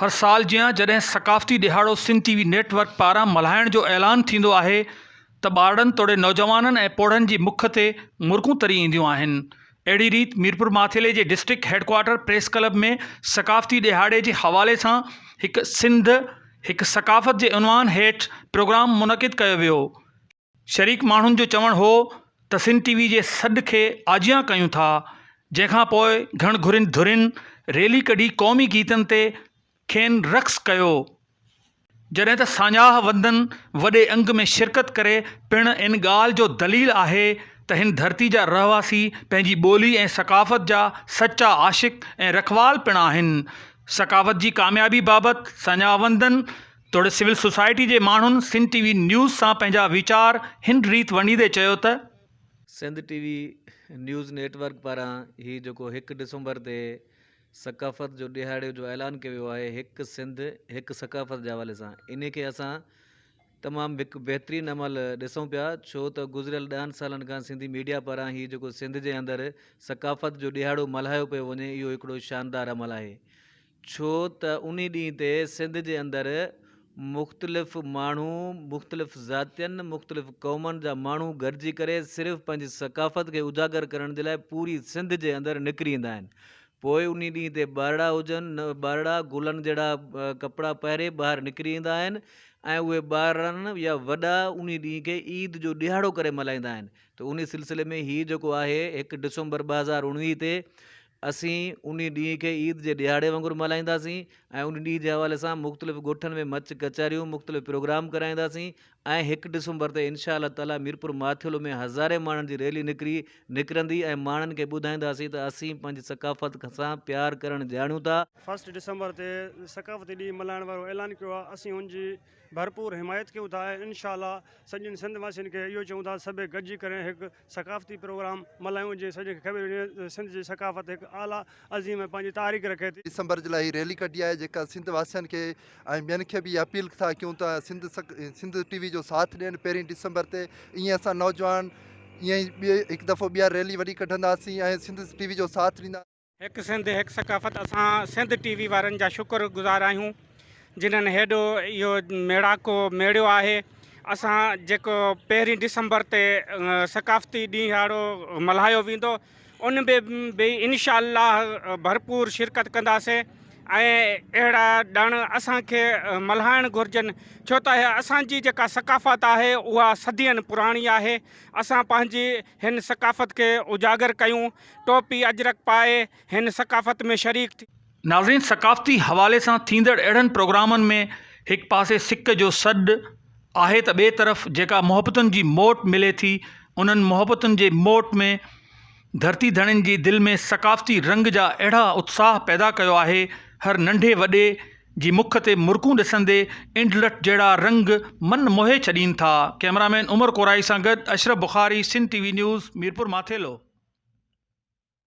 هر سال جيان جڏهن ثقافتي ڏهاڙو Sindh T V network پاران ملهائڻ جو اعلان ٿيندو آهي ته ٻارڙن توڙي نوجوانن ۽ پوڙهن جي مک تي مرڪون تري اينديون آهن اهڙي ريت ميرپورماٿيلي جي ڊسٽرڪٽ هيڊڪوارٽر پريس ڪلب ۾ ثقافتي ڏهاڙي جي حوالي سان هڪ سنڌ هڪ ثقافت جي عنوان هيٺ پروگرام منعقد ڪيو ويو شريڪ ماڻهن جو چوڻ هو ته سنڌ ٽي وي جي سڏ کي آجيان ڪيون ٿا جنهن کان پوء گهڻ گهرين ڌرين ريلي ڪڍي قومي گيتن تي کين رقص ڪيو جڏهن ته ساڃاهه وندن وڏي انگ ۾ شرڪت ڪري پڻ ان ڳالهه جو دليل آهي ته هن ڌرتي جا رهواسي پنهنجي ٻولي ۽ ثقافت جا سچا عاشق ۽ رکوال پڻ آهن ثقافت جي ڪاميابي بابت ساڃاهه وندن توڙي سول سوسائٽي جي ماڻهن سنڌ ٽي وي نيوز سان پنهنجا ويچار هن ريت ونڊيندي چيو ته. Sindh T V news network پاران هي جيڪو هڪ ڊسمبر تي ثقافت جو ڏهاڙي جو اعلان ڪيو ويو آهي هڪ سنڌ هڪ ثقافت جي حوالي سان انهي کي اسان تمام هڪ بهترين عمل ڏسون پيا ڇو ته گذريل ڏهن سالن کان سنڌي ميڊيا پاران هي جيڪو سنڌ جي اندر ثقافت جو ڏهاڙو ملهايو پيو وڃي اهو هڪڙو شاندار عمل آهي ڇو ته انهي ڏينهن تي سنڌ جي اندر مختلف ماڻهو مختلف ذاتين مختلف قومن جا ماڻهو گڏجي ڪري صرف پنهنجي ثقافت کي اجاگر ڪرڻ جي لاء پوري سنڌ جي اندر نڪري ايندا آهن پوء انهي ڏينهن تي ٻارڙا هجن نه ٻارڙا گلن جهڙا ڪپڙا پهري ٻاهر نڪري ايندا آهن ۽ اهي ٻارڙن يا وڏا انهي ڏينهن کي عيد جو ڏهاڙو ڪري ملهائيندا آهن ته انهي سلسلي ۾ هي جيڪو آهي هڪ ڊسمبر ٻه هزار اڻويهه تي اسين انهي ڏينهن کي عيد جي ڏهاڙي وانگر ملهائينداسين ۽ انهي ڏينهن جي حوالي سان مختلف ڳوٺن ۾ مچ ڪچهريون مختلف پروگرام ڪرائينداسين ۽ هڪ ڊسمبر تي انشاء الله تعالي ميرپور ماٿيلو ۾ هزارين ماڻهن جي ريلي نڪري نڪرندي ۽ ماڻهن کي ٻڌائينداسين ته اسين پنهنجي ثقافت سان پيار ڪرڻ ڄاڻيون ٿا. فرسٽ ڊسمبر تي ثقافتي ڏينهن ملهائڻ وارو اعلان ڪيو آهي اسين ان جي ڀرپور حمايت ڪيون ٿا ۽ انشاء الله سڄين سنڌ واسين کي اهو چئون ٿا ته سڀئي گڏجي ڪري هڪ ثقافتي پروگرام ملهايون جيئن سڄڻ کي خبر هجي ته سنڌ جي ثقافت هڪ اعليٰ عظيم ۽ پنهنجي تاريخ رکي ٿي. ڊسمبر جي لاء هي ريلي ڪڍي آهي جيڪا سنڌ واسين کي ۽ ٻين کي به اها اپيل ٿا ڪيون ته سنڌ سک سنڌ ٽي وي جو ساٿ ڏين پهرين ڊسمبر تي ائين اسان نوجوان ائين ئي ٻي هڪ دفعو ٻيهر ريلي وڏي ڪڍنداسين ۽ سنڌ ٽي وي جو ساٿ ڏيندا هڪ سنڌ هڪ ثقافت اسان سنڌ ٽي وي وارن جا شڪر گذار آهيون جنھن هيڏو اهو ميڙاڪو ميڙيو آهي اسان جيڪو پهرين ڊسمبر تي ثقافتي ڏينهاڙو ملهايو ويندو ان به به انشاء الله ڀرپور شرڪت ڪنداسي ۽ اهڙا ڏڻ اسان کي ملهائڻ گهرجن ڇو ته اسان جي جيڪا ثقافت آهي اها صدين پراڻي آهي اسان پنهنجي هن ثقافت کي اجاگر ڪيون ٽوپي اجرڪ پائي هن ثقافت ۾ شريڪ ٿيو. ناظرين ثقافتي حوالي سان ٿيندڙ اهڙن پروگرامن ۾ هڪ پاسي سڪ جو سڏ آهي ته ٻئي طرف جيڪا محبتن جي موٽ ملي ٿي انهن محبتن جي موٽ ۾ ڌرتي ڌڻين جي دل ۾ ثقافتي رنگ جا اهڙا اتساهه پيدا ڪيو آهي هر ننڍي وڏي جي مک تي مرڪون ڏسندي انڊلٺ جهڙا رنگ من موهي ڇڏين ٿا. ڪئميرامين عمر ڪورائي سان گڏ Ashraf Bukhari Sindh T V news Mirpur Mathelo.